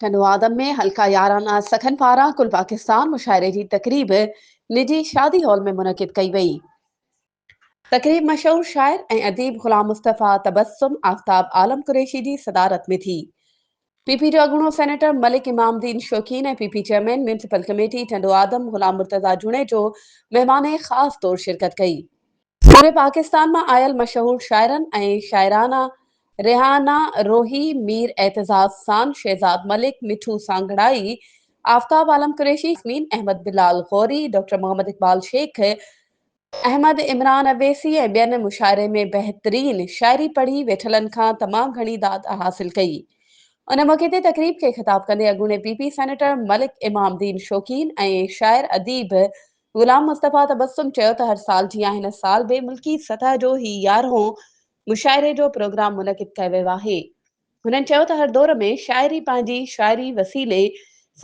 ٽنڊو آدم ۾ حلقه يارانه سخن پاران ڪل پاڪستان مشاعري جي تقريب نجي شادي هال ۾ منعقد ڪئي وئي. تقريب مشهور شاعر ۽ اديب غلام مصطفيٰ تبسم آفتاب عالم قريشي جي صدارت ۾ ٿي. پي پي جو اڳوڻو سينيٽر ملڪ امام الدين Shaukeen ۽ P P chairman municipal committee Tando Adam Ghulam Murtaza Junejo مهمان خاص طور شرڪت ڪئي. پوري پاڪستان مان آيل مشهور شاعرن ۽ شاعرانه ريحانه روهي، مير اعتزاز سان، شهزاد ملڪ، مٺو سانگهڙائي، آفتاب عالم قريشي، ياسمين احمد، بلال غوري، ڊاڪٽر محمد اقبال شيخ، احمد عمران اويسي ۽ ٻين مشاعري ۾ بهترين شاعري پڙهي ويٺلن کان تمام گهڻي داد حاصل ڪئي. ان موقعي تي تقريب کي خطاب ڪندي اڳوڻي P P senator Malik Imam Din Shaukeen ۽ شاعر اديب غلام مصطفيٰ تبسم چيو ته هر سال جيان هن سال به ملڪي سطح جو هي يارهون مشاعري جو پروگرام منعقد ڪيو ويو آهي. هنن چيو ته هر دور ۾ شاعري پنهنجي شاعري وسيلي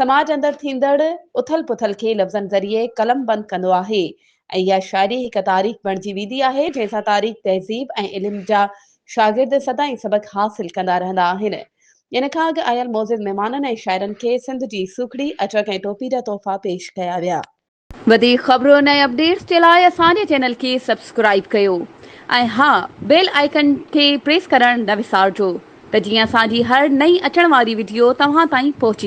سماج اندر ٿيندڙ اٿل پٿل کي لفظن ذريعي قلم بند ڪندو آهي ۽ اها شاعري هڪ تاريخ بڻجي ويندي آهي جنهن سان تاريخ تهذيب ۽ علم جا شاگرد سدائين سبق حاصل ڪندا رهندا آهن ان کان اڳ آيل معزز مهمانن ۽ شاعرن کي سنڌ جي سوکڙي، اچڪ ۽ ٽوپي جا تحفا پيش ڪيا ويا. وڌيڪ خبرن ۽ اپڊيٽس جي لاء اسان جي چينل کي سبسڪرائيب ڪيو ۽ ها بيل آئيڪن کي پريس ڪرڻ نه وسارجو ته جيئن اسان جي هر نئين اچڻ واري وڊيو توهان تائين پهچي